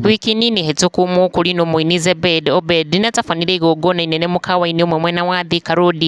Wiki nini hĩtũku mũkũri nũ mũini Zebed Obed nĩatabanire igongona inene mũkawa-inĩ ũmwe mwena wa Thika Road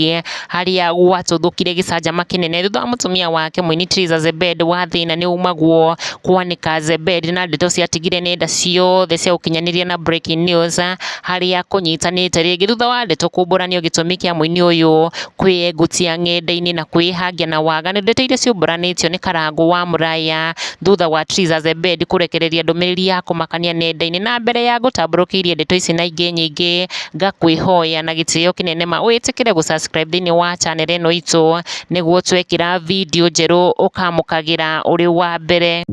harĩa gwatũthũkire gĩcanjama kĩnene thutha wa mũtumia wake mũini Triza Zebed wa thĩna nĩ umagwo kwanĩka Zebed na ndeto ciatigire nenda ciothe cia ũkinyanĩria na breaking news harĩa kũnyitanĩte rĩngĩ thutha wa ndeto kũmbũranio gĩtũmi kĩa mũini ũyũ kwĩyengutia ng'enda-inĩ na kwĩĩhangia na waga. Nĩ ndeto iria ciũmbanĩtio nĩ Karangũ wa Mũraya thutha wa Trizah the Bed kũrekereria ndũmĩrĩri ya kũmakania nenda-inĩ. Na mbere ya ngũtambũrũkĩirie ndeto ici na ingĩ nyingĩ, ngakwĩhoya na gĩtĩo kĩnene ma wĩtĩkĩre gũ subscribe thĩinĩ wa channel ĩno itũ, nĩguo twekĩra video njerũ ũkamũkagĩra ũrĩ wa mbere.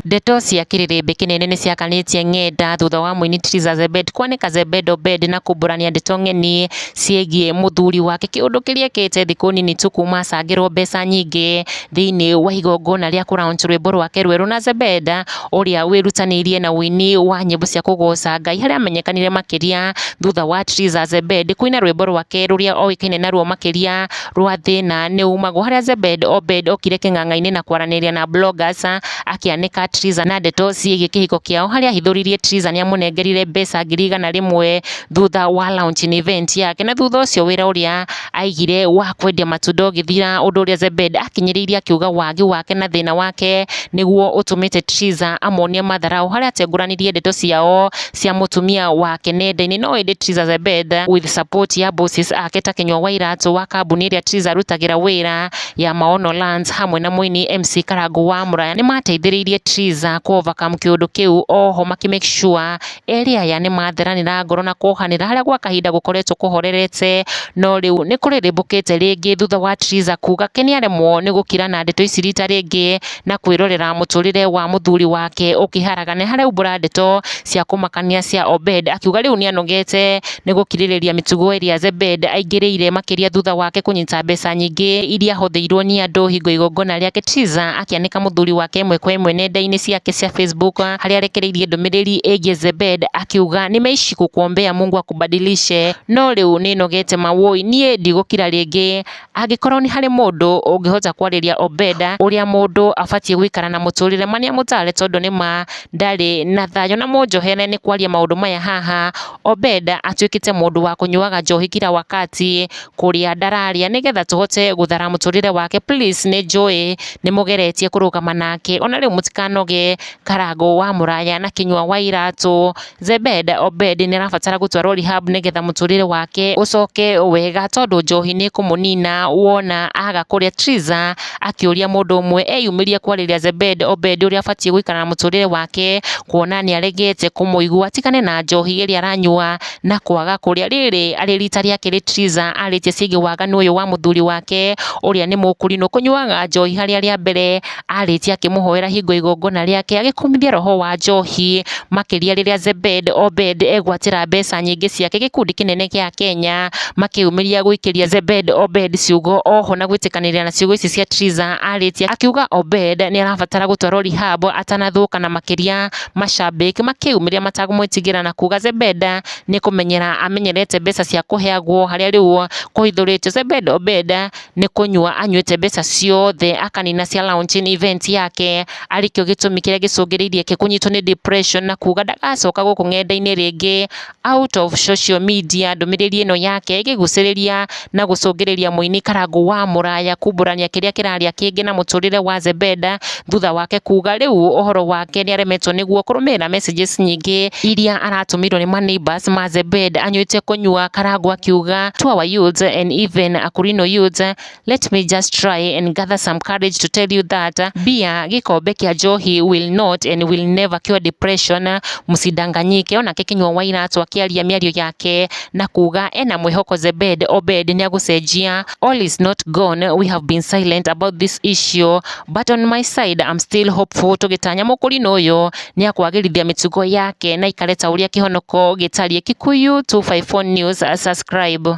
Ndeto cia kĩrĩrĩmbĩ kĩnene nĩciakanĩtie ng'enda thutha wa mũini Triza Zebed kwanĩka Zebed Obed na kumbũrania ndeto ng'eni ciĩgiĩ mũthuri wake kĩũndũ kĩrĩekĩte thikũ nini tu kuma acangĩrwo mbeca nyingĩ thĩinĩ wa igongona rĩa kũ launch rwĩmbo rwake rwerũ na Zebed ũrĩa wĩrutanĩirie na ũini wa nyĩmbo cia kũgoca Ngai harĩa amenyekanire makĩria thutha wa Triza Zebed kũina rwĩmbo rwake rũrĩa oĩkaine naruo makĩria rwa thĩna nĩ umagwo harĩa Zebed Obed okire kĩng'ang'a-inĩ na kwaranĩria na bloggers akĩanĩka Triza na ndeto ciĩgiĩ kĩhiko kĩao harĩa ahithũririe Triza nĩ amũnengerire mbeca ngiri igana rĩmwe thutha wa launching event yake na thutha ũcio wĩra ũrĩa aigire wa kwendia matunda ũgĩthira ũndũ ũrĩa Zebed akinyĩrĩirie akiuga wagi wake na thĩna wake nĩguo ũtũmĩte Triza amonie matharaũ harĩa atengũranirie ndeto ciao cia mũtumia wake nenda-inĩ no ĩndĩ Triza Zebed with support ya bosses ake ta Kinyua Wairatũ wa kambuni ĩrĩa Triza arutagĩra wĩra ya Maono Lands hamwe na mũini MC Karangũ wa Muraya nĩ maateithĩrĩirie Triza kũ overcome kĩũndũ kĩu oho makĩ make sure erĩ aya nĩ matheranĩra ngoro na kohanĩra harĩa gwa kahinda gũkoretwo kũhorerete no rĩu nĩ kũrĩrĩmbũkĩte rĩngĩ thutha wa Triza kuga ke nĩ aremwo nĩ gũkira na ndeto ici rita rĩngĩ na kwĩrorera mũtũrĩre wa mũthuri wake ũkĩharagana. Nĩ haraumbũra ndeto cia kũmakania cia Obed akiuga rĩu nĩ anogete nĩ gũkirĩrĩria mĩtugo ĩrĩa Zebed aingĩrĩire makĩria thutha wake kũnyita mbeca nyingĩ iria ahũthĩirwo nĩ andũ hingo igongona rĩake. Triza akĩanĩka mũthuri wake ĩmwe kwa ĩmwe nenda-inĩ ciake cia Facebook harĩa arekereirie ndũmĩrĩri ĩgiĩ Zebed akiuga nimeishi kukuombea Mungu akubadilishe no rĩu nĩ nogete mawũi niĩ ndigũkira rĩngĩ. Angĩkorwo nĩ harĩ mũndũ ũngĩhota kwarĩria Obeda ũrĩa mũndũ abatiĩ gũikara na mũtũrĩre ma nĩamũtare tondũ nĩma ndarĩ na thayũ. Na mũnjohere nĩ kwaria maũndũ maya haha, Obeda atuĩkĩte mũndũ wa kũnyuaga njohi kira wakati, kũrĩa ndararĩa nĩgetha tũhote gũthara mũtũrĩre wake. Please nĩnjũĩ nĩmũgeretie kũrũgama nake, ona rĩu mũtikanoge karangũ wa mũraya na kĩnyua wa iratũ. Zebed Obed nĩ arabatara gũtwarwo rehab nĩgetha mũtũrĩre wake ũcoke wega tondũ njohi nĩ ĩkũmũnina wona aga kũrĩa. Triza akĩũria mũndũ ũmwe eyumĩrie kwarĩria Zebed Obed ũrĩa abatiĩ gũikara na mũtũrĩre wake kuona nĩ aregete kũmũigua atigane na njohi ĩrĩa aranyua na kwaga kũrĩa. Rĩrĩ arĩ rita rĩa kerĩ Triza arĩtie ciĩgiĩ waganu ũyũ wa mũthuri wake ũrĩa nĩ mũkũrinũ kũnyuaga njohi harĩa rĩa mbere. arĩkia akĩmũhoera hingo ya igongona rĩake, agĩkumithia roho wa njohi, makĩria rĩrĩa Zebed Obed egwatĩra mbeca nyingĩ ciake gĩkundi kĩnene gĩa Akenya, makĩyumĩria gũikĩria Zebed Obed ciugo oho na gwĩtĩkanĩria na ciugo ici cia Triza arĩtie akiuga Obed nĩ arabatara gũtwarwo rehab atanathũka na makĩria mashabĩki makĩyumĩria matakũmwĩtigĩra na kuga Zebed nĩ kũmenyera amenyerete mbeca cia kũheagwo harĩa rĩu kũhithũrĩtio Zebed Obed nĩ kũnyua anyuĩte mbeca ciothe akanina cia launching event yake, arĩ kĩo gĩtũmi kĩrĩa gĩcũngĩrĩirie Ake kũnyitwo nĩ depression na kuga ndagacoka gũkũ ng'enda-inĩ rĩngĩ, out of social media ndũmĩrĩri ĩno yake ĩkĩgucĩrĩria na gũcũngĩrĩria mũini Karangũ wa Mũraya kumbũrania kĩrĩa kĩrarĩa kĩngĩ na mũtũrĩre wa Zebenda, thutha wake kuga rĩu ũhoro wake nĩ aremetwo nĩguo kũrũmĩrĩra messages nyingĩ iria aratũmĩirwo nĩ ma neighbors ma Zebed anyuĩte kũnyua karango akiuga to our youth and even Akurino youth let me just try and gather some courage to tell you that beer gĩkombe kĩa njohi will not and will never cure depression mũsidanganyike onake kinyua wa iratũ akĩaria mĩario yake na kuga ena mwĩhoko Zebed Obed nĩ agũcenjia all is not gone we have been silent about this issue but on my side I'm still hopeful tũgĩtanya mũkũrinũ ũyũ nĩ akwagĩrithia mĩtugo yake na ikareta ũrĩa kĩhonoko gĩtariĩ Kikuyu 254 News subscribe